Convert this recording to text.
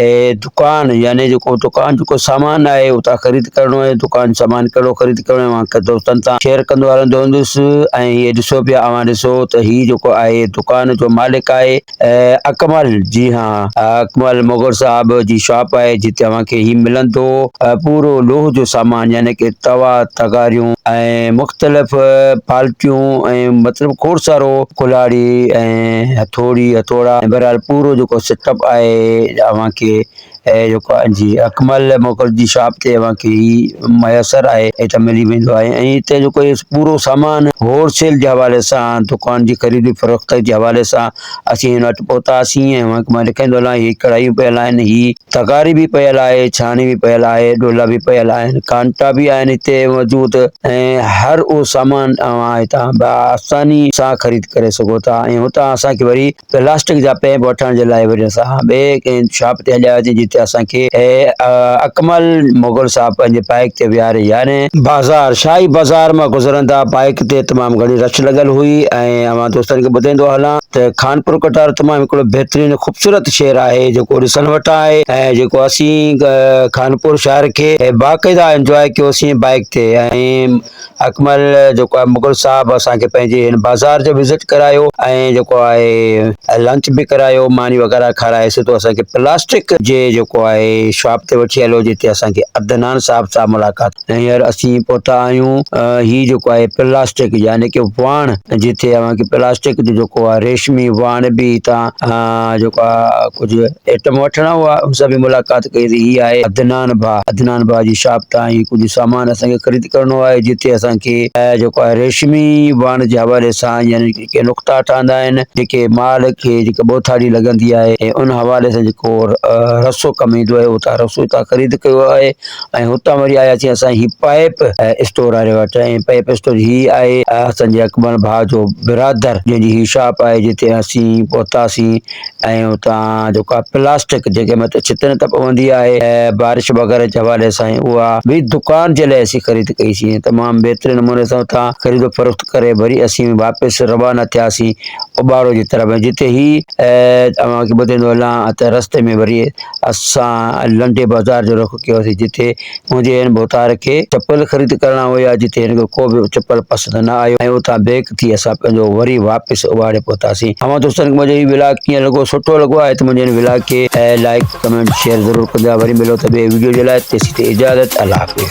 اي دڪان يعني جيڪو دڪان جيڪو سامان آهي اتان خريد ڪرڻو آهي دڪان سامان ڪهڙو خريد ڪرڻو آهي اوهان کي دوستن سان شيئر ڪندو هلندو هوندس ۽ هي ڏسو پيا اوهان ڏسو ته هي جيڪو آهي دڪان جو مالڪ آهي اڪمل جي ها اڪمل مغل صاحب جي شاپ آهي جتي اوهان کي هي ملندو پورو لوهه جو سامان يعني ڪي توا تغاريون ۽ مختلف پالٽيون ۽ مطلب کوڙ سارو ڪلهاڙي ۽ ۽ هٿوڙي هٿوڙا ۽ بهرحال پورو جيڪو سيٽ اپ آهي اوهان کي جيڪو آهي جي اڪمل موڪل جي شاپ تي اوهان کي هي ميسر آهي هتي ملي ويندو آهي ۽ هتي جيڪو هي پورو سامان هول سيل جي حوالي سان دڪان جي خريدي فروخت جي حوالي سان اسين هن وٽ پهتاسين ۽ اوهان کي مان ڏيکاريندو هلان هي ڪڙهايون پيل آهن هي تغاري به پيل آهي، ڇاڻي به پيل آهي، ڊولا به پيل آهن، ڪانٽا به آهن هتي موجود ۽ هر اهو سامان اوهان هتان به آساني سان خريد ڪري سگهو ٿا ۽ هتان اسان کي وري پلاسٽڪ جا پيپ وٺڻ جي لاء وري اسان ٻئي ڪنهن شاپ تي هليا وياسين جتي اسان کي اڪمل مغل صاحب پنهنجي بائيڪ تي ويهاري يارهين بازار شاهي بازار مان گذرندا بائيڪ تي تمام گهڻي رش لڳل هئي ۽ اوهان دوستن کي ٻڌائيندو هلان. ته خانپور ڪٽار تمام هڪڙو بهترين خوبصورت شهر آهي جيڪو ڏسڻ وٽان آهي ۽ جيڪو اسين خانپور شهر کي باقاعده انجواء ڪيوسين بائيڪ تي ۽ اڪمل جيڪو آهي مغل صاحب اسان کي پنهنجي هن بازار جو وزٽ ڪرايو ۽ جيڪو آهي لنچ به ڪرايو ماني وغيره کارائي سي تو اسان کي پلاسٽڪ جي جيڪو آهي شاپ تي وٺي هليو جتي اسان کي عدنان صاحب سان ملاقات هينئر اسين پهتا آهيون هي جيڪو آهي پلاسٽڪ يعني ڪي واڻ جتي اوهان کي پلاسٽڪ جو جيڪو آهي ريشمي واڻ به هتان جيڪو آهي ڪجهه آئٽم وٺڻا هئا ان سان به ملاقات ڪئي هي آهي عدنان ڀاء عدنان ڀاء جي شاپ تان هي ڪجهه سامان اسان کي خريد ڪرڻو آهي جتي اسان کي جيڪو آهي ريشمي واڻ جي حوالي سان يعني ڪي نقطا ٺهندا آهن جيڪي مال کي جيڪا ٻوٿاڙي لڳندي آهي ان حوالي سان جيڪو رسو ڪم ايندو آهي اتان رسو اتان خريد ڪيو آهي ۽ هتان وري آياسين اسان هي پائپ اسٽور واري وٽ ۽ پائپ اسٽور هي آهي اسان جي اڪبر ڀاء جو برادر جنهن جي هي شاپ آهي جتي اسين پهتاسين ۽ اتان جيڪا پلاسٽڪ جيڪي مت ڇتن ته پوندي آهي بارش وغيره جي حوالي سان اها به دڪان جي لاء اسين خريد ڪئي سي تمام بهترين نموني سان اتان خريد و فروخت ڪري وري اسين واپس روانا ٿياسين اوٻاڙو جي طرف جتي هي اوهان کي ٻڌندو هلان ته رستي ۾ وري اسان لنڊي بازار جو رخ ڪيوسين جتي منهنجي هن ڀوتار کي چپل خريد ڪرڻا هيا جتي هن کي ڪو به چپل پسند نه آيو ۽ اتان بيڪ ٿي اسان پنهنجو وري واپس اٻاڙي پهتاسين اوهان دوستن کي منهنجو هي ولاگ ڪيئن لڳو سٺو لڳو آهي ته منهنجي هن ولاگ کي لائڪ ڪمينٽ شيئر ضرور ڪجا وري ملو ته ٻي وڊيو جي لاء تيسين تي اجازت الله حافظ